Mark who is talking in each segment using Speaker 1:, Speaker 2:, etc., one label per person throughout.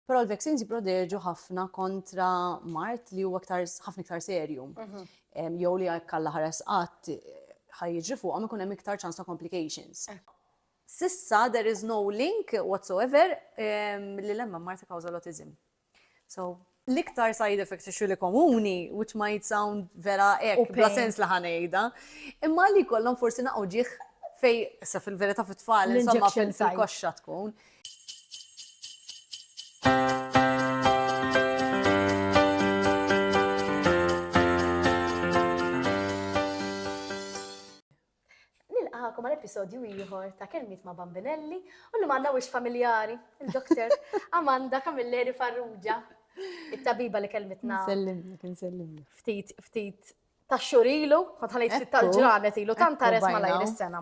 Speaker 1: Però l-vaccines jipproteġu ħafna kontra mart li huwa aktar ħafna iktar serju. Mhm. Em, Jew li jekk alla ħares qatt ħajġi fuqhom ikun hemm iktar ċans ta' complications. Eh. Sissa there is no link whatsoever em, li lemma mart ta' kawża l-autism. So, l-iktar side effects issue li komuni, which might sound vera U ek, bla pain. sens li ħanejda, imma li kollhom forsi naqgħu ġieħ fej, issa fil-verità fit-tfal, insomma L-injection fil- site. fil-koxxa tkun,
Speaker 2: nilqakom għal episodju ieħor ta' kelmiet ma' Bambinelli u li manna wix familjari, il-doktor Amanda Kamilleri Farrugia, it-tabiba li kelmitna. Nsellimni, nsellimni.
Speaker 1: Ftit, ftit
Speaker 2: ta' xhur ilu, kont ħanejt ftit tal-ġranet ilu, tant ta' resma lajr is-sena.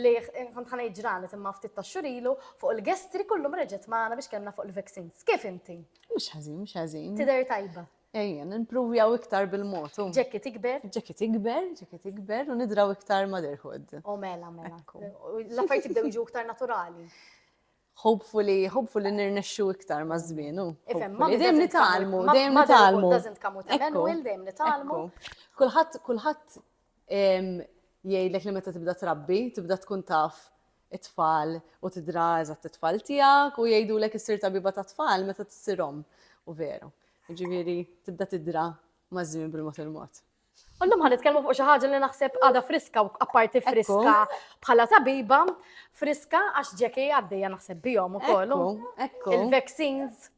Speaker 2: Li kont ħanejt ġranet imma ftit ta' xhur ilu, fuq il-gestri kullum reġgħet magħna biex kellna fuq il-vaccines. Kif inti? Mhux ħażin, mhux
Speaker 1: ħażin. Tidher tajba.
Speaker 2: Ejja, nimpruvjaw
Speaker 1: iktar bil-mod. Ġekki tikber?
Speaker 2: Ġekki tikber,
Speaker 1: ġekki tikber, u nidraw iktar motherhood. U mela,
Speaker 2: mela. L-affarijiet jibdew jiġu iktar naturali. Hopefully, hopefully
Speaker 1: nirnexxu iktar ma' żmien. Dejjem
Speaker 2: nitalmu,
Speaker 1: dejjem nitalmu. Doesn't
Speaker 2: come with a manual, dejjem nitalmu. Kulħadd, kulħadd
Speaker 1: jgħidlek li meta tibda trabbi, tibda tkun taf it-tfal u tidra eżatt it-tfal tiegħek u jgħidulek issir tabiba ta' tfal meta tissirhom u veru. Ġifieri tibda tidra maż-żmien bil-mod il-mod. Illum ħan nitkellmu
Speaker 2: fuq xi ħaġa li naħseb għadha friska u apparti friska bħala tabiba, friska għax ġeki għaddejja naħseb bihom ukoll. Ekku.
Speaker 1: Il-vaccines.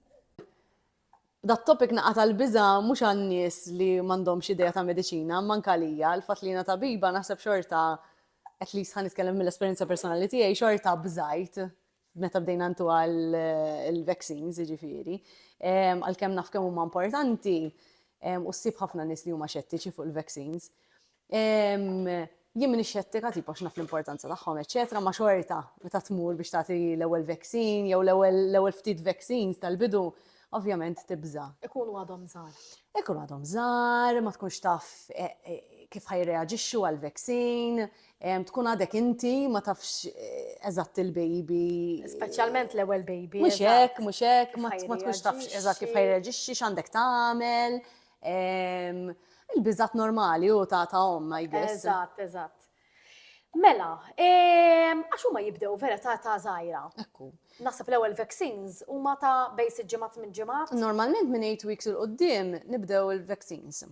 Speaker 1: Dat topic naqata l-biża mhux għan-nies li m'għandhomx idea ta' mediċina, manka lija, l-fatt li jiena tabiba naħseb xorta at least ħan nitkellem mill-esperjenza personali tiegħi xorta bżajt meta bdejna ntu għal il-vaccines, jiġifieri, għalkemm naf kemm huma importanti, u ssib ħafna nies li huma xettiċi fuq il-vaccines. Jien minn xettika tipo x'naf l-importanza tagħhom, eċetera, ma xorta meta tmur biex tagħti l-ewwel vaccine jew l-ewwel ftit vaccines tal-bidu, ovvjament tibża. Ikunu għadhom żgħar.
Speaker 2: Ikunu għadhom
Speaker 1: żgħar, ma tkunx taf kif ħajreaġixxu għall-vaccine, Tkun għadek inti ma tafx eżatt il-baby. Speċjalment l-ewwel
Speaker 2: baby. Mhux hekk, mhux hekk,
Speaker 1: ma tkunx tafx eżatt kif ħajreġixxi, x'għandek tagħmel. Il-biżgħat normali u ta' ta' omm, I guess. Eżatt, eżatt.
Speaker 2: Mela, għax huma jibdew vera ta' ta' żgħira. Ekku. Naħseb
Speaker 1: l-ewwel
Speaker 2: vaccines huma ta' bejn sitt ġimgħat minn ġimgħat. Normalment minn 8 weeks
Speaker 1: il-qudiem nibdew il-vaccines.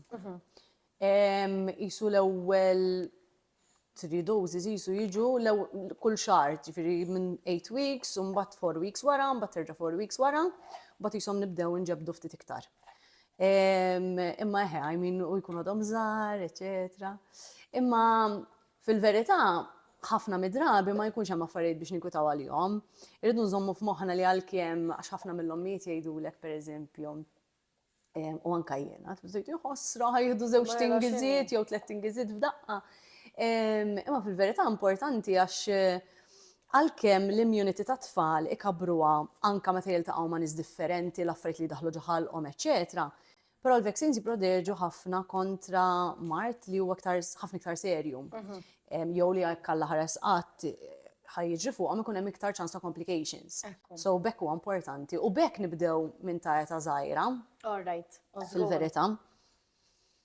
Speaker 1: Qisu l-ewwel three doses qisu jiġu kull xahar, jiġifieri minn eight weeks u mbagħad four weeks wara, mbagħad terġa' four weeks wara, mbagħad qishom nibdew inġebbdu ftit iktar. Imma eħe, I mean, u jkunu għadhom żgħar, eċetera. Imma fil-verità ħafna mid-drabi ma jkunx hemm affarijiet biex ninkwitaw għalihom. Irridu nżommu f'moħħna li għalkemm għax ħafna mill-ommijiet jgħidulek pereżempju, u anka jiena, tbżajt jħossra ħajħdu zewġ tingiziet jew tlet tingiziet f'daqqa. Imma fil-verità importanti għax eh, għalkemm l-immunity ta' tfal ikabruha anka meta jiltaqgħu ma' nies differenti, l-affarijiet li daħlu ġoħalqhom, eċetera. Però l-vaccines jiprodeġu ħafna kontra mart li huwa ħafna iktar serju. Mhm. Jew li għakka ħares qatt ħa jiġri fuqhom ikun hemm iktar ċans ta' complications. So b'hekk huwa importanti u b'hekk nibdew minn ta' eta żgħira. All right.
Speaker 2: Fil-verità.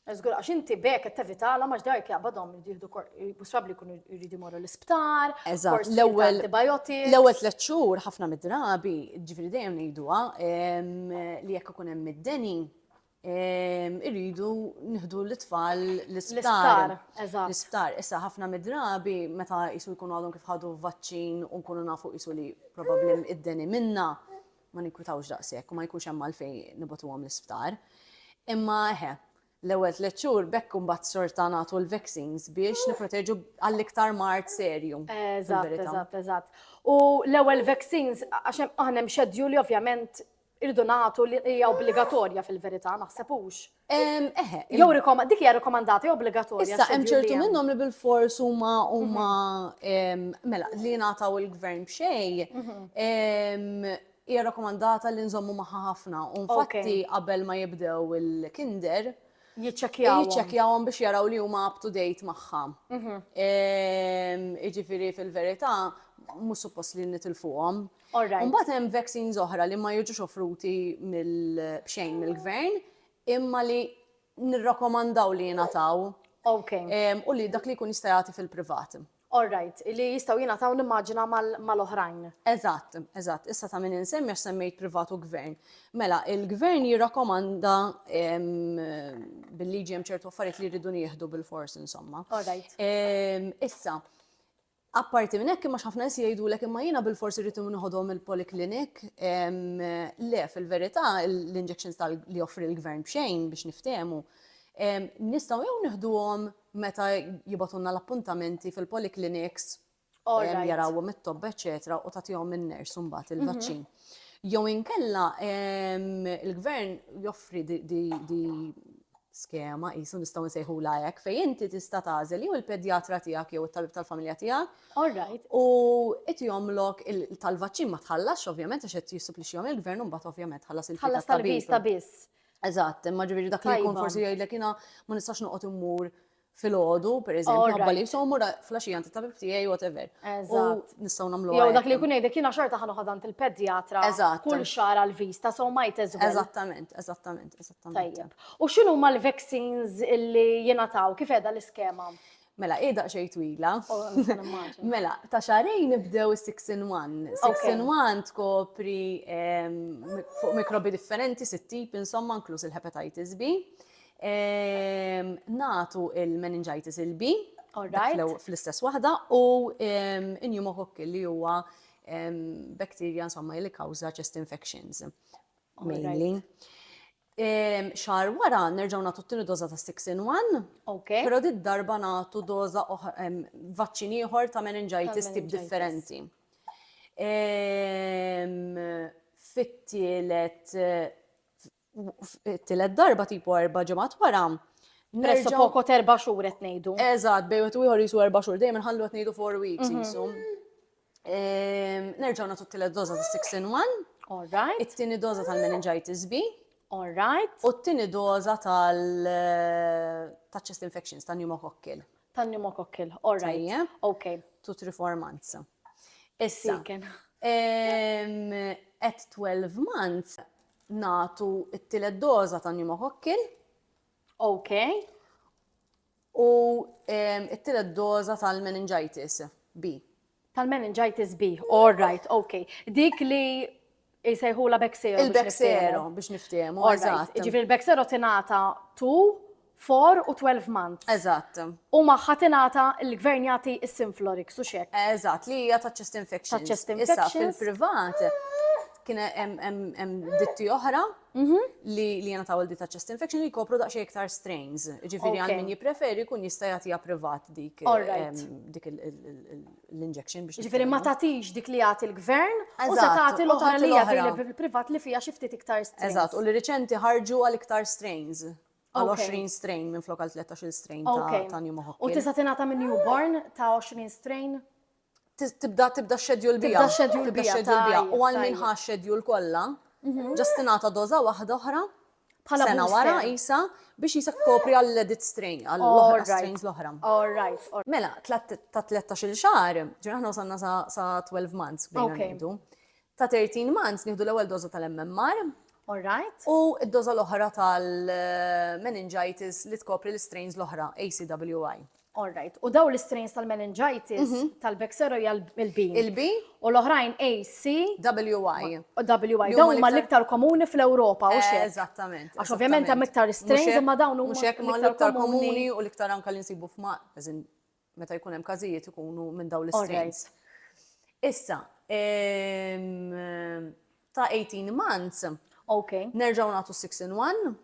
Speaker 2: Zgur, għax inti bek qed tevitala għax dajk jaqbadhom jieħdu possibbli jkunu jridu jmorru l-isptar, l-ewwel
Speaker 1: antibiotics.
Speaker 2: L-ewwel tliet
Speaker 1: xhur ħafna mid-drabi, ġifieri dejjem ngħiduha li jekk ikun hemm id-deni, irridu nieħdu l-itfal l-isptar. L-isptar, issa ħafna midrabi meta jisu jkunu għadhom kif ħadu vaċċin u nkunu nafu jisu li probabbli id-deni minna ma ninkwitawx daqshekk u ma jkunx hemm għalfejn nibatuhom l-isptar. Imma eħe, l-ewwel tliet xhur bekk imbagħad sorta nagħtu l-vaccines biex nipproteġu għall-iktar mart serju. Eżatt, eżatt,
Speaker 2: eżatt. U l-ewwel vaccines għax aħna hemm xedju li ovvjament Irridu nagħtu li hija obbligatorja fil-verità, naħseb hux. Eħe. Jew rikoma, dik hija rikomandat, obbligatorja. Issa hemm ċertu minnhom
Speaker 1: li bil-fors huma huma mhm. mela li jingħataw il-gvern b'xej. Mhm. Hija rakkomandata li nżommu magħha ħafna. U infatti qabel ma jibdew il-kinder, jiċċekjaw. Jiċċekjawhom biex jaraw li huma up to date magħha. Mhm. Iġifieri fil-verità mhux suppost li nitilfuhom. Imbagħad hemm
Speaker 2: vaccines
Speaker 1: oħra li ma jiġux offruti b'xejn mill-gvern imma li nirrakkomandaw li jingħataw
Speaker 2: u li dak li
Speaker 1: jkun jista' jagħti fil-privat. All right, li
Speaker 2: jistgħu jingħataw nimmaġina mal-oħrajn. Eżatt,
Speaker 1: eżatt, issa ta' min insemmi għax semmejt privat u gvern. Mela, il-gvern jirrakkomanda bil-liġi hemm ċertu affarijiet li jridu nieħdu bil-fors insomma. All right.
Speaker 2: Issa,
Speaker 1: Apparti minn hekk, imma x'ħafna nies jgħidulek imma jiena bilfors irrid nieħodhom il-poliklinik. Le, fil-verità l-injections li joffri l-Gvern b'xejn biex niftehmu, nistgħu jew nieħduhom meta jibgħatulna l-appuntamenti fil-polikliniks jarawhom it-tobba eċċetera u tagħtihom in-nurse mbagħad il-vaċċin. Jew inkella l-Gvern joffri di skema, qisu nistgħu nsejħulha hekk, fejn inti tista' tagħżel jew il-pedjatra tiegħek jew it-tabib tal-familja tiegħek. All right. U
Speaker 2: qed
Speaker 1: jagħmlok il, tal-vaċċin ma tħallasx ovvjament għax qed jissuplixxihom il-gvern u mbagħad ovvjament tħallas il-fee Tħallas tat-tabib. tal-viżta biss.
Speaker 2: Eżatt, imma ġifieri
Speaker 1: dak li jkun Tajba. forsi jgħidlek jiena ma nistax noqgħod immur fil-ħodu, per eżempju, għabba li jisommu flasġija għant il-tabib tijaj, whatever. Eżat. Nistaw
Speaker 2: namlu. Jow, dak
Speaker 1: li kun jgħidek jina
Speaker 2: xorta ħanu ħadant il-pedjatra. Eżat. Kull xara l-vista, so ma jtezgħu. Eżattament, eżattament,
Speaker 1: eżattament. Tajjeb.
Speaker 2: U xinu ma l-vaccines li jina taw, kif edha l-iskema? Mela, ida xej
Speaker 1: twila. Oh, mela, ta' xarejn nibdew 6 in 1. 6 in 1 tkopri ehm, fuq mikrobi differenti, sitt tip, insomma, inkluż il-hepatitis B. Ehm, natu il-meningitis il-B, fl-istess waħda, u ehm, pneumococcus li huwa ehm, bakterja insomma li kawża chest infections. Mainly. Xar wara nerġaw natu t-tini doza ta' 6 in 1. Ok. Pero dit darba natu doza vaċċin ieħor ta' meningitis tip differenti. Fit-tielet Tillet darba tipo erba' ġimgħat wara. Presso poko
Speaker 2: terba' xhur qed ngħidu. Eżatt, bej wieħed u ieħor jisu
Speaker 1: erba' xhur, dejjem inħallu qed ngħidu four weeks mhm. jisu. Ehm, nerġgħu nagħtu t-tielet doża ta' 6 in 1. All right. It-tieni
Speaker 2: doża
Speaker 1: tal-meningitis B. All right. U
Speaker 2: t-tini doza
Speaker 1: tal eh, ta' chest infections, ta' pneumococcil. Ta' pneumococcil,
Speaker 2: all right. Tajjeb. Ok. Two, three, four
Speaker 1: months. Issa. At 12 months, nagħtu t-tielet doża ta' pneumococcil, OK, u t-tielet doża tal-meningitis B. Tal-meningitis
Speaker 2: B, all right, OK. Dik li jsejħula Bexero. Il-Bexero biex
Speaker 1: niftehmu, eżatt. Ġifieri il-Bexero tingħata
Speaker 2: tu four u twelve months. Eżatt. U magħha
Speaker 1: tingħata
Speaker 2: l-Gvern jagħti s-Synflorix u x'hekk. Eżatt, li hija ta' chest
Speaker 1: infections. Ta' chest infections. Issa
Speaker 2: fil-privat
Speaker 1: kien hemm ditti oħra mhm. li jena ta' għoldi ta' chest infection li kopru daqxie iktar strains. Ġifiri għal min jipreferi kun jista' jagħtiha privat dik dik l-injection biex. Ġifiri ma tagħtix dik
Speaker 2: li jagħti l-gvern u se tagħti l-oħra li jagħti privat li fija xi ftit iktar strains. Eżatt, u li riċenti
Speaker 1: ħarġu għal iktar strains. għal 20 strain minn flok għal 13 strain ta' pneumococcus. U tista' tingħata minn
Speaker 2: newborn ta' 20 strain? Tibda
Speaker 1: tibda xedjul bija. Tibda xedjul
Speaker 2: bija. U għal minn ħa
Speaker 1: xedjul kollha, mhm. ġast tingħata doża waħda oħra bħala sena wara isa biex jisa kopri għall-edit strain, għall-strains l-oħra. All right. Mela, ta' 13 xar, ġuna ħna usanna sa' 12 months, bħina Ta' 13 months nieħdu l-ewwel doża tal-MMR. All right. U
Speaker 2: d-doża l-oħra
Speaker 1: tal-meningitis li tkopri l-strains l-oħra, ACWY. All right. U dawn
Speaker 2: l-strains tal-meningitis tal-Bexsero hija l-B. Il-B. U
Speaker 1: l-oħrajn
Speaker 2: AC. WY. WY.
Speaker 1: Dawn huma l-iktar
Speaker 2: komuni fl-Ewropa, u x'hekk. Eżattament. Għax ovvjament
Speaker 1: hemm iktar
Speaker 2: strains imma dawn huma l-iktar komuni
Speaker 1: u l-iktar anke li nsibu f'ma, meta jkun hemm każijiet ikunu minn dawn l-istrains. Issa, ehm, ta' 18 months, okay. nerġaw
Speaker 2: natu 6 in
Speaker 1: 1.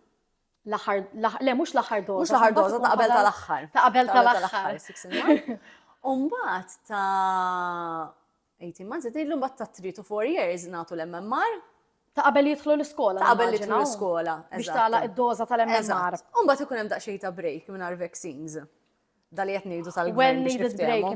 Speaker 1: L-aħħar,
Speaker 2: le, mux l-aħħar doza. Mux l-aħħar doza, ta' qabel
Speaker 1: tal-aħħar. Ta' qabel tal-aħħar. Umbat ta' 18 months, qed ngħidlu mbagħad ta' 3 to 4 years nagħtu l-MMR. Ta' qabel jidħlu
Speaker 2: l-iskola. Ta' qabel jidħlu l-iskola.
Speaker 1: Biex tagħlaq id-doża
Speaker 2: tal-MMR. U mbagħad ikun hemm daqsxejn
Speaker 1: ta' break mingħajr vaccines. Dali qed ngħidu tal-gvern biex
Speaker 2: niftehmu.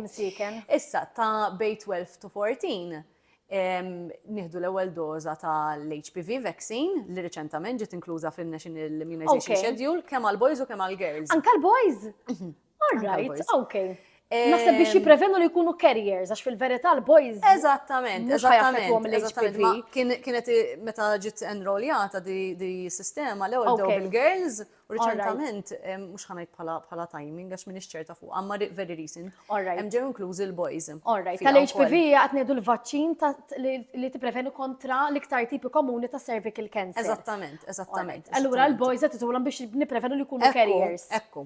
Speaker 2: Issa ta'
Speaker 1: bej 12 to 14 nieħdu l-ewwel doża tal-HPV vaccine li riċentament ġiet inkluża fin-National Immunization Schedule kemm
Speaker 2: għall-boys
Speaker 1: u kemm għall-girls. Anke l-boys? Mhm. All right, okay.
Speaker 2: Naħseb biex jiprevenu li jkunu carriers, għax fil-verità l-boys. Eżattament,
Speaker 1: eżattament. l Kienet meta ġiet enrolljata di sistema l ewwel dew bil-girls, u reċentament, mhux ħanajt bħala timing, għax minix ċerta fuq, għamma very recent. Hemm ġew inklużi l-boys. Alright, tal-HPV
Speaker 2: għat ngħidu l-vaċċin li tipprevenu kontra l-iktar tipi komuni ta' cervical cancer. Eżattament, eżattament.
Speaker 1: Allura l-boys
Speaker 2: qed biex nipprevenu li jkunu carriers. Ekku,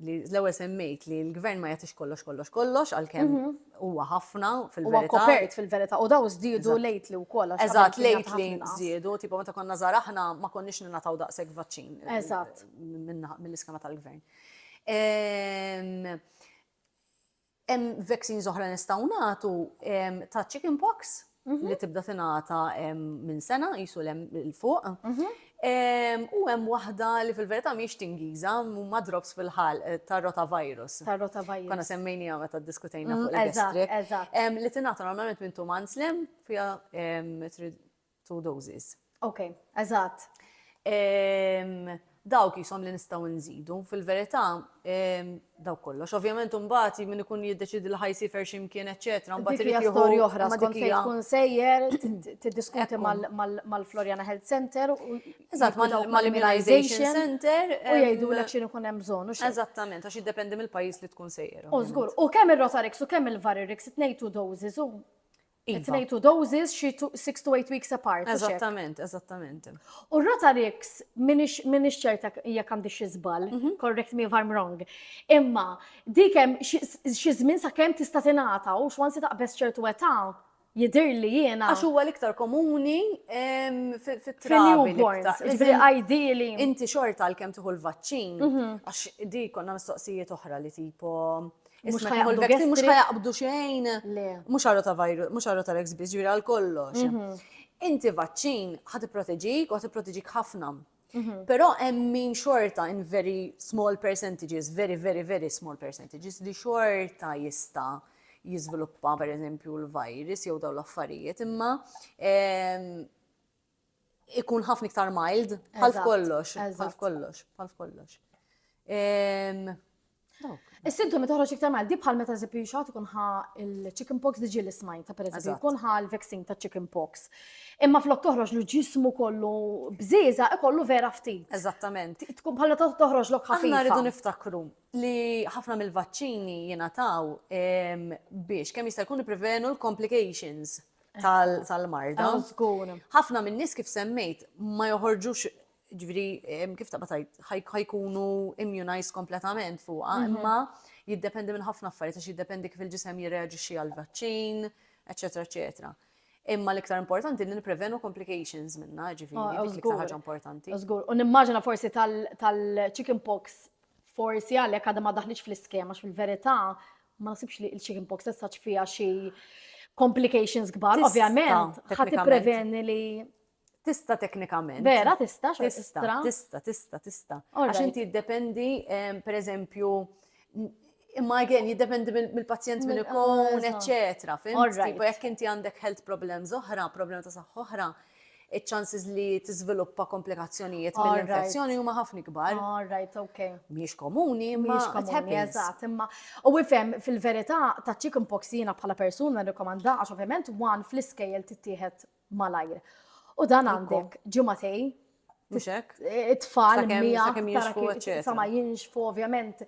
Speaker 1: li l-ewwel semmejt li l-gvern ma jagħtix kollox kollox kollox għalkemm mhm. huwa ħafna fil-verità. Huwa kopert fil-verità
Speaker 2: u daw żdiedu lejt li wkoll. Eżatt lejt li
Speaker 1: żdiedu, tipo meta konna żgħar aħna ma konniex ningħataw daqshekk vaċċin. Eh, Eżatt.
Speaker 2: Mill-iskema
Speaker 1: tal-gvern. Ehm, Hemm vaccines oħra nistgħu nagħtu ta' chicken pox li tibda tingħata minn sena qisu lem il fuq. U hemm waħda li fil-verità mhix tingiża huma drops fil-ħalq tar-rotavirus. Tar-rotavirus. Konna semmejniha meta ddiskutejna fuq il-gastric. Eżatt, eżatt. Li tingħata normalment minn two months lem fiha Two doses. Ok, eżatt. Dawk jisom li nistgħu nżidu, fil-verità dawk kollox. Ovvjament imbagħad min ikun jiddeċidi li ħajsifer x'imkien eċetera, mbagħad irid jieħu storja oħra
Speaker 2: skont fejn tkun sejjer tiddiskuti mal-Floriana Health Center u eżatt
Speaker 1: mal-Immunization Center u jgħidu lek x'in
Speaker 2: ikun hemm bżonn. Eżattament, għax jiddependi
Speaker 1: mill-pajjiż li tkun sejjer. U żgur, u kemm ir-Rotarix
Speaker 2: u kemm il-Varirix it-tnejn two doses u Iva. It-tnejn two doses, xi two- six to eight weeks apart. u x'hekk. Eżattament, eżattament.
Speaker 1: U
Speaker 2: Rotarix, minix minix ċerta jekk għandi xi żball, correct me if I'm wrong. Imma dik hemm xi xi żmien sakemm tista' tingħata u x'once taqbeż ċertu età jidhirli jiena Għax huwa l-iktar komuni
Speaker 1: em, fi- fit-trabi. fil-newborns,
Speaker 2: l-iktar. ġifieri Iżda ideally. Inti xorta
Speaker 1: għalkemm tieħu l-vaċċin, għax di konna mistoqsijiet oħra li tipo Mux ħajaqbdu vaccine, mux ħajaqbdu xejn. Mux għarru ta' virus, mux għarru ta' l-XB, ġviri għal kollox. Mhm. Inti vaċċin ħati proteġik u ħati proteġik ħafna. Mhm. Pero hemm min xorta in very small percentages, very, very, very small percentages li xorta jista jizviluppa per eżempju l-virus jew daw l-affarijiet, imma ehm, ikun ħafna iktar mild, bħal kollox, bħal kollox, bħal kollox.
Speaker 2: Is-sintomi toħroġ iktar mal di bħal meta żipju xogħol ikun ħa il-chicken pox diġi l smajn ta' pereżempju jkun ħa l-vaccin ta' chicken pox. Imma flok toħroġ l ġismu kollu bżiża ikollu vera ftit. Eżattament. Tkun
Speaker 1: bħal meta toħroġ
Speaker 2: lok ħafna. Aħna rridu niftakru
Speaker 1: li ħafna mill-vaċċini jingħataw biex kemm jista' jkun prevenu l-complications. tal-marda. Ah, Ħafna minn nies kif semmejt ma joħorġux ġviri kif ta' batajt ħajkunu immunized kompletament fuqa, mhm. imma jiddependi minn ħafna affarijiet għax jiddependi kif il-ġisem jirreaġixxi għal-vaċċin, eċetera, eċetera. Imma l-iktar importanti li niprevenu complications minna, ġifiri, ah, dik l-iktar ħaġa importanti. Zgur, u nimmaġina
Speaker 2: forsi tal-chicken pox forsi għalek għadha ma daħliċ fl-iskema, fil-verità Ma nasibx li il-chicken pox tessaċ fija xi complications kbar, ovvjament, ħat preveni li Tista
Speaker 1: teknikament. Vera, tista,
Speaker 2: tista, tista, tista,
Speaker 1: tista. Għax inti jiddependi, per eżempju, imma again, jiddependi mill-pazjent minn ikun, eccetera. Fim, tipo, jekk inti għandek health problems oħra, problema ta' saħħa oħra, iċ-chances li tiżviluppa komplikazzjonijiet mill-infezzjoni huma ħafna kbar. All right, okay.
Speaker 2: Mhix komuni,
Speaker 1: imma komuni, eżatt, imma
Speaker 2: u ifhem fil-verità ta' chicken pox jiena bħala persuna nirrikomanda għax ovvjament wan fl-iskejjel tittieħed malajr. U dan għandek ġimagħtej Mhux hekk? It-tfal miegħek sa ma jinxfu ovvjament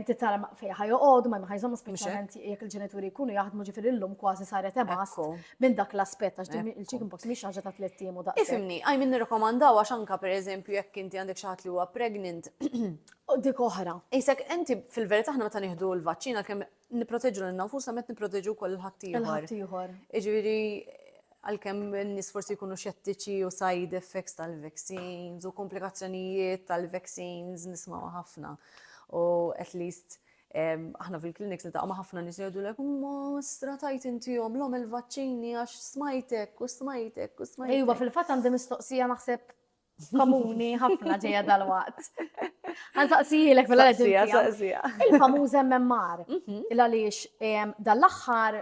Speaker 2: titara fejn ħajoqgħod ma ħajżhom speċjalment jekk il-ġenituri jkunu jaħdmu ġifieri llum kważi saret ebas minn dak l-aspett għax din il-chicken box mhix ħaġa ta' tliet tim u daqs. Ifimni, għaj minn nirrakomandaw
Speaker 1: għax anka pereżempju jekk inti għandek xi ħadd li huwa pregnant. Dik
Speaker 2: oħra. Isek inti
Speaker 1: fil-verità aħna meta nieħdu l-vaċċina kemm Nipproteġu lil nfusna meta nipproteġu wkoll il-ħaddieħor. Il-ħaddieħor. Jiġifieri għalkemm in-nies forsi jkunu xettiċi u side effects tal-vaccines u komplikazzjonijiet tal-vaccines nismaw ħafna. U at least aħna fil-kliniks nitaqgħu ma' ħafna nies jgħidulek ma stratajt intihom l-om il-vaċċini għax smajtek u smajtek u
Speaker 2: smajtek. Ejwa fil-fatt għandi mistoqsija naħseb komuni ħafna ġeja dal-waqt. Għan saqsijilek fil saqsija.
Speaker 1: Il-famuż MMR,
Speaker 2: mhm. il-għalix dal-axħar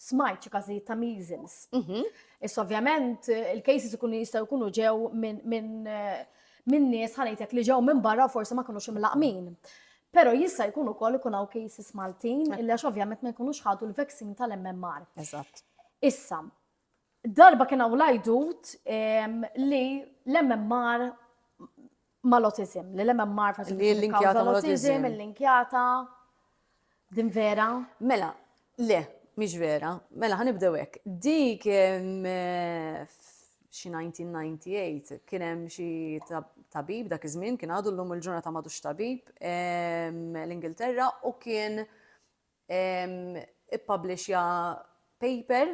Speaker 2: smajt xi każijiet ta' measles. Mhm. Is ovvjament il-cases ikunu jistgħu jkunu ġew minn eh, minn nies ħanejtek li ġew minn barra forsi ma kinux imlaqmin. Pero jista' jkun ukoll ikun hawn cases Maltin illa ovvjament ma jkunux ħadu l-vaccine tal-MMR. Eżatt.
Speaker 1: Issa,
Speaker 2: Darba kien hawn l-għajdut li l-MMR mal-otizim, li l-MMR faċilment l-inkjata
Speaker 1: mal-otizim, l-inkjata,
Speaker 2: din vera? Mela,
Speaker 1: le, mhix vera. Mela ħanibdew hekk. Dik xi 1998 kien hemm xi tabib dak iż-żmien kien għadu llum il-ġurnata madux tabib l-Ingilterra u kien ippublishja paper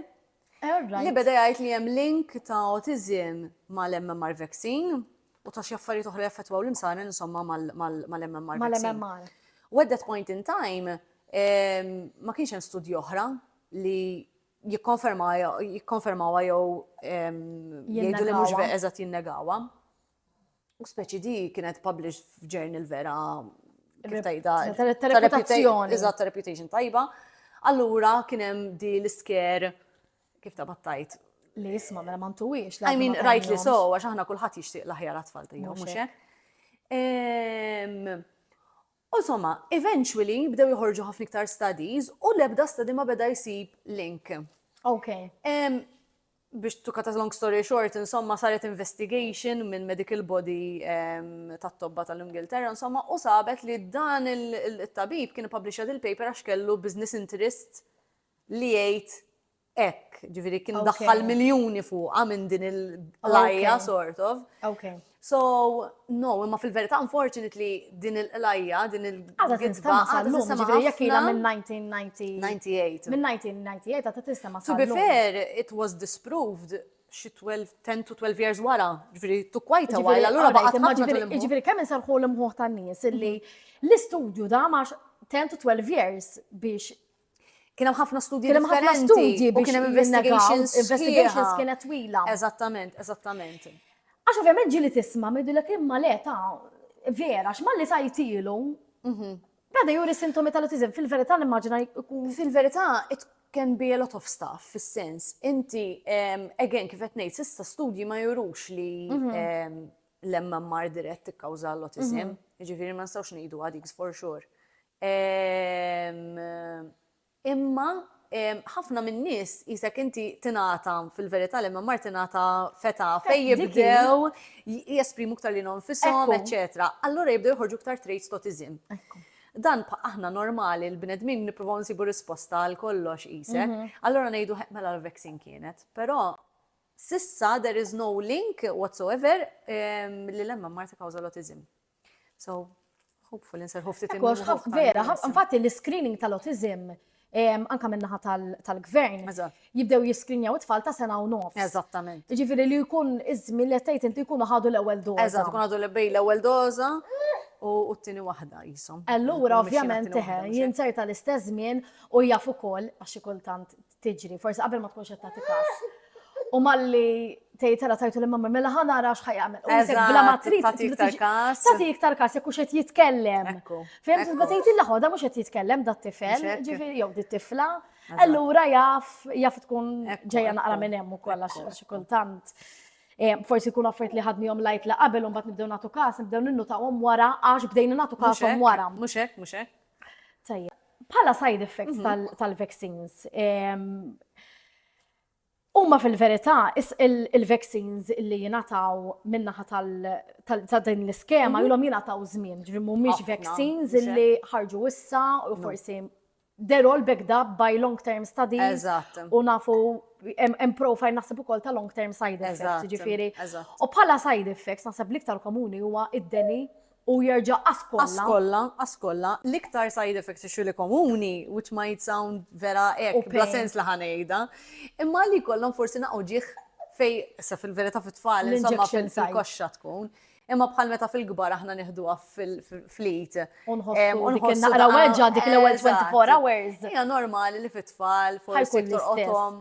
Speaker 1: li beda jgħid li hemm link ta' autism mal-MMR vaccine u ta' xi affarijiet oħra jaffettwaw l-imsaren insomma mal-MMR vaccine. Mal-MMR. U at that
Speaker 2: point in
Speaker 1: time ma kienx hemm studji oħra li jikkonfermawa jew jgħidu li mhux eżatt jinnegawa. U speċi di kienet published f'journal vera kif tajda. Ta' reputazzjoni.
Speaker 2: Eżatt, ta' reputation
Speaker 1: tajba. Allura kien hemm di l-isker kif ta' battajt. Li jisma' mela ma
Speaker 2: ntuwiex. I mean, rajt li so,
Speaker 1: għax aħna kulħadd jixtieq l-aħjar għatfall tiegħu, mhux hekk? U somma, eventually bdew joħorġu ħafna iktar studies u l-ebda study ma beda jsib link. Ok. Biex to cut a long story short, insomma saret investigation minn medical body tat-tobba tal-Ingilterra, insomma, u sabet li dan il-tabib kien published il-paper għax kellu business interest li jgħid hekk, ġifieri kien daħħal miljuni fuqha minn din il-lajja sort of. So, no, imma fil-verità unfortunately din il-qlajja, din il-gidba għadha
Speaker 2: tistema'
Speaker 1: ħafna. Jekk
Speaker 2: ilha minn 1998.
Speaker 1: Minn 1998
Speaker 2: għadha tistema' To be fair,
Speaker 1: it was disproved xi 12, 10 to 12 years wara, ġifieri to quite a while, allura baqgħet ħafna tal-imħuħ. Ġifieri kemm insarħu
Speaker 2: l-imħuħ tan-nies illi l-istudju da max 10 to 12 years biex Kien hemm
Speaker 1: ħafna studji Kien hemm ħafna differenti studji u
Speaker 2: biex kien hemm
Speaker 1: investigations sħiħa. investigations
Speaker 2: kienet twila. Eżattament, eżattament.
Speaker 1: Għax ovvjament
Speaker 2: ġili tisma' midu l imma le ta' vera, x'malli tajtilu. Bada juri sintomi tal-autizm, fil-verità l-immaġina jkun Fil-verità, it
Speaker 1: can be a lot of stuff, fis-sens, inti, em, again, kif qed ngħid, sissa studji ma jurux li em, l-MMR dirett tikkawża l-autism, jiġifieri ma nistgħux ngħidu għadik for sure. Ehm, imma ehm, ħafna min-nies jisek inti tingħata fil-verità li ma mar tingħata feta fejn jibdew jesprimu ktar li nonfishom, eċċetera. Allura jibdew joħorġu ktar traits totizim. Ekku dan aħna normali l-bnedmin nipruvaw nsibu risposta għal kollox isek. Mhm. Allora ngħidu mela l-vaccine kienet. Però sissa there is no link whatsoever li lemma marta kawza l-otizim. So, hopeful inserħu ftit Kollox ħaf vera,
Speaker 2: infatti l-screening tal-autism anka minnaħa tal-gvern, jibdew jiskrinjaw it-tfal ta' sena u nofs. Eżattament. Ġifiri
Speaker 1: li jkun
Speaker 2: iżmi li tgħid inti jkunu ħadu l-ewwel doza. Eżatt, jkun ħadu l-bej l-ewwel
Speaker 1: doza u t-tieni waħda jisom. Allura ovvjament
Speaker 2: teħe, jinserta l-istess żmien u jaf ukoll għax kultant tiġri, forsi qabel ma tkunx qed tagħti każ. U malli tgħidha tajtu li mamma mela ħa nara x'ħaj jagħmel. U jisek bla ma trid tagħti iktar każ.
Speaker 1: Tagħti iktar każ jekk
Speaker 2: qed jitkellem. Fehmt ma tgħidilha ħoda mhux qed jitkellem dat tifel, ġifieri jew dit tifla. Allura jaf jaf tkun ġejja naqra minn hemm ukoll għax xi kultant. Eh, forsi kun affert li ħadni jom lajt la qabel un bat nibdew natu kas, nibdew ninnu ta' wara, għax bdejna natu kas wara. Muxek, muxek.
Speaker 1: Tajja.
Speaker 2: Bħala side effects mhm. tal-vaccines, Umma fil-verità, il-vaccines li jinataw minnaħa ta' din l-iskema, mhm. jilom jinataw zmin, ġri mumiex vaccines li ħarġu issa u mhm. forsi they're all backed up by long-term studies. U nafu hemm profile naħseb ukoll ta' long-term side effects, ġifieri. U bħala side effects naħseb l-iktar komuni huwa id-deni U jerġa' ascolla. Ascolla,
Speaker 1: ascolla, l-iktar side effect issue li komuni, which might sound vera hekk, bla sens li ħa ngħidha, imma li jkollhom forsi naqgħu ġieħ fej, issa fil-verità fit-tfal, insomma fil-koxxa tkun. Imma bħal meta fil-kbar aħna nieħduha fil-flit. Unħossu
Speaker 2: dik naqra weġġa' dik l-ewwel
Speaker 1: 24
Speaker 2: hours. Hija
Speaker 1: normali
Speaker 2: li
Speaker 1: fit-tfal forsi torqodhom.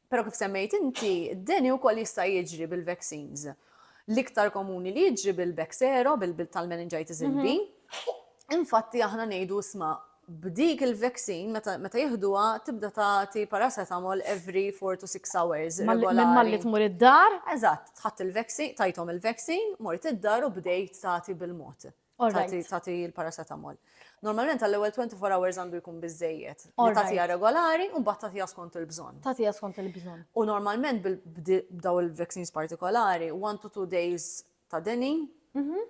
Speaker 1: Però kif semmejt inti, d-deni wkoll jista' jiġri bil-vaccines. L-iktar komuni li jiġri bil-Bexero, tal-meningitis mhm. B. Infatti aħna ngħidu isma' b'dik il-vaccine meta jihduha tibda tagħti paracetamol every 4 to 6 hours. Minn malli tmur
Speaker 2: id-dar? Eżatt, tħadd
Speaker 1: il-vaccine, tajthom il-vaccine, mort id-dar u bdejt tagħti bil-mod. tagħti l-paracetamol. Normalment għall-ewwel 24 hours għandu jkun biżejjed. Li tagħtiha regolari u mbagħad tagħtiha skont il-bżonn. Tagħtiha skont il-bżonn.
Speaker 2: U normalment
Speaker 1: b'daw il-vaccines partikolari, 1 to 2 days ta' deni, mhm.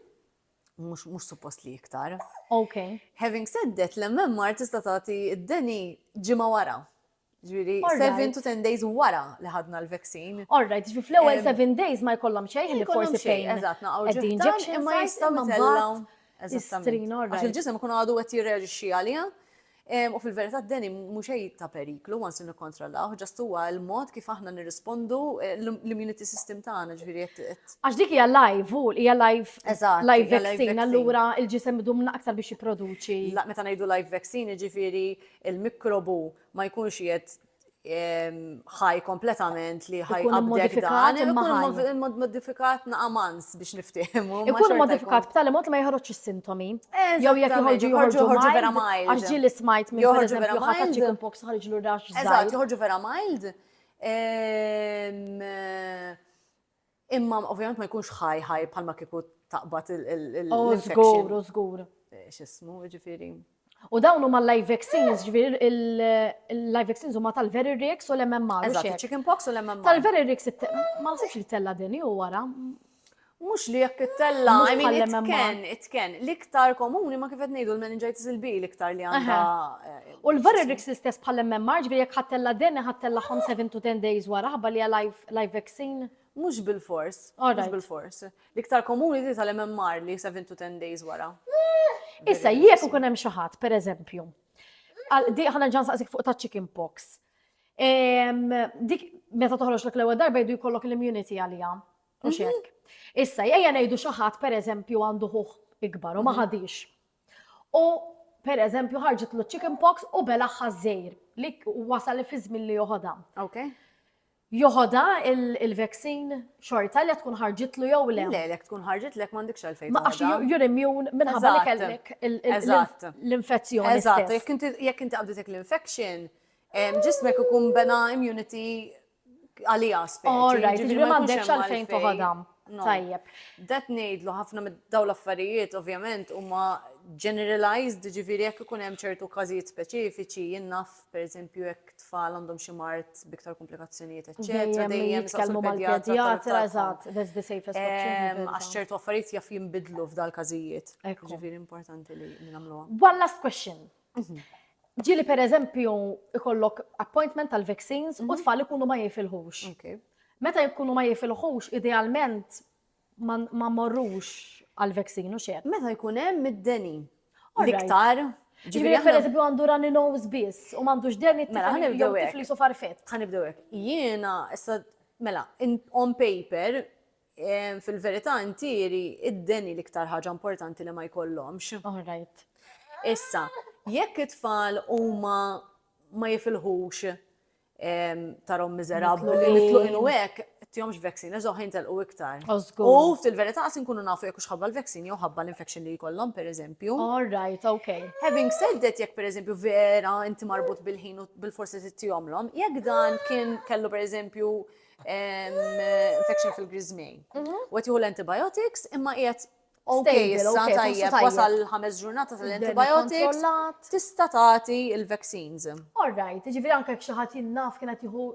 Speaker 1: mhux suppost li iktar. Ok.
Speaker 2: Having said that,
Speaker 1: l-MMR tista' tagħti id-deni ġimgħa wara. Ġviri, 7 to 10 days wara li ħadna l-vaccine. All right, ġviri fl-ewel
Speaker 2: 7 days ma jkollhom xejn li forsi fejn. Eżatt, naqgħu ġeħtan
Speaker 1: imma jistgħu mitellaw. Eżattament.
Speaker 2: Għax il-ġisem kun
Speaker 1: għadu qed jirreġixxi għalija. U fil-verità d-deni mhux ta' periklu once li nikkontrollaw, ġast huwa l-mod kif aħna nirrispondu eh, l-immunity system tagħna ġifieri qed. Għax dik hija live
Speaker 2: u hija live live vaccine allura il-ġisem idum aktar biex jipproduċi. Meta ngħidu live
Speaker 1: vaccine ġifieri il-mikrobu ma jkunx qiegħed ħaj kompletament li ħaj Ikun immodifikat imma ħaj. Immodifikat naqamans biex niftehmu. Ikun immodifikat b'tali
Speaker 2: mod li ma joħroġx is-sintomi. Jew jekk joħorġu joħorġu vera mild. Għax ġieli smajt minn joħorġu vera mild. Chicken pox ħarġlu rax. Eżatt, joħorġu vera mild.
Speaker 1: Imma ovvjament ma jkunx ħaj ħaj bħalma kieku taqbad il-infection. Żgur, żgur.
Speaker 2: X'ismu,
Speaker 1: ġifieri. U dawn huma
Speaker 2: live vaccines, ġvir il-live vaccines huma tal-Veririx u l-MMR. Eżatt, chicken pox u l-MMR.
Speaker 1: Tal-Veririx,
Speaker 2: ma nasibx li tella din u wara. Mux li
Speaker 1: jekk tella, I mean, it can, it can. L-iktar komuni ma kifet nejdu l-meningitis il-B l-iktar li għanda. Eh, u l-Veririx
Speaker 2: l-istess bħal-MMR, ġvir jekk ħattella din, ħattella 5 to 10 days wara, ħabba li għalajf. Live vaccine? Mhux bilfors.
Speaker 1: Mhux bilfors. L-iktar komuni di tal-MMR li 7 to 10 days wara. Issa,
Speaker 2: jekk ikun hemm xi ħadd, pereżempju, ħana ġan saqsik fuq ta' chicken pox. Dik meta toħroġ l ewwel darba jdu jkollok l-immunity għalija. U mhm. xek. Issa, jgħja ngħidu xi ħadd pereżempju għandu ħuħ ikbar u ma mhm. ħadix. U pereżempju ħarġet l chicken pox u bela ħażejr li wasal fi żmien li joħodha. Okay.
Speaker 1: Joħodha
Speaker 2: il-veksin xorta li tkun ħarġitlu jew le? Le, jekk tkun ħarġitlek
Speaker 1: m'għandekx għalfejn. Ma għax jur immun
Speaker 2: minħabba li kellek l-infezzjoni. Eżatt,
Speaker 1: jekk inti qabditek l-infection, ġismek ikun bena immunity għalija spek. All right, ġifri m'għandekx
Speaker 2: għalfejn toħodha. Tajjeb. Dat ngħidlu
Speaker 1: ħafna daw l-affarijiet ovvjament huma generalized, ġifieri jekk ikun hemm ċertu każijiet speċifiċi jinnaf pereżempju jekk tfal għandhom xi mard b'iktar komplikazzjonijiet eċċetera, dejjem jitkellmu mal-pedjatra
Speaker 2: eżatt, that's the safest option. Għax ċertu affarijiet
Speaker 1: jaf jinbidlu f'dal każijiet. Ġifieri importanti li nagħmluha. One last question.
Speaker 2: Mhm. Ġieli pereżempju ikollok appointment tal-vaccines u mhm. tfal ikunu ma jifilħux. Meta jkunu ma jifilħux, idealment ma mmorrux għal vaccine u xejn. Meta jkun hemm id-deni.
Speaker 1: L-iktar Ġifieri per
Speaker 2: eżempju għandu runny nose biss u m'għandux deni mela ħanibdew hekk. Tifli sofar fett. Ħanibdew hekk. Jiena
Speaker 1: issa mela on paper fil-verità intieri id-deni l-iktar ħaġa importanti li ma jkollhomx. All right.
Speaker 2: Issa,
Speaker 1: jekk it-tfal huma ma jifilħux tarom miżerabbli, mitluqin u hekk, tihomx vaccine, eżoħ jintelqu iktar. U fil-verità qas inkunu nafu jekk xħabba l-vaccine jew ħabba l-infection li jkollhom pereżempju. All right, ok.
Speaker 2: Having said that, jekk
Speaker 1: pereżempju vera inti marbut bil-ħin u bil-forsi tittihomlhom, jekk dan kien kellu pereżempju infection fil-grizmej. Mhm. U qed jieħu l-antibiotics imma qiegħed Ok, issa tajjeb, wasal ħames ġurnata tal-antibiotics, tista' tagħti il-vaccines. All right, ġifieri
Speaker 2: anke xi ħadd jinnaf kien qed jieħu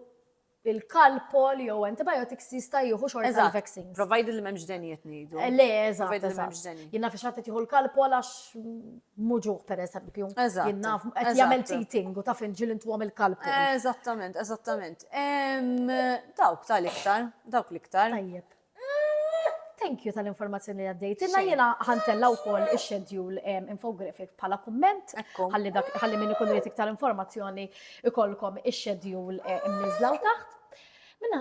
Speaker 2: il-kalpol jew antibiotics jista' jieħu xorta il-vaccines. Provided li m'hemmx denijiet
Speaker 1: ngħidu. Eh, le, eżatt.
Speaker 2: Jinnaf xi ħadd jieħu l-kalpol għax muġuh pereżempju. Eżatt. Jinnaf qed jagħmel teething u taf inġil intu għamil kalpol. Eżattament, eżattament.
Speaker 1: Dawk tal-iktar,
Speaker 2: dawk
Speaker 1: l-iktar. Tajjeb.
Speaker 2: Thank you tal-informazzjoni li għaddejtilna. Jiena ħantella wkoll ix-schedule em, infographic bħala kumment Ekku. ħalli dak ħalli min ikun irid iktar informazzjoni ikolkom ix-schedule eh, imniżla u taħt. Minna,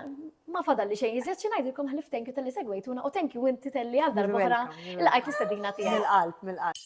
Speaker 2: ma fadal li xejn iżjed xi ngħidilkom ħlif thank you tal-li segwejtuna u thank you inti telli għal darba oħra welcome, you're il qajt l-istedina tiegħek. Mill-qalb,
Speaker 1: mill-qalb.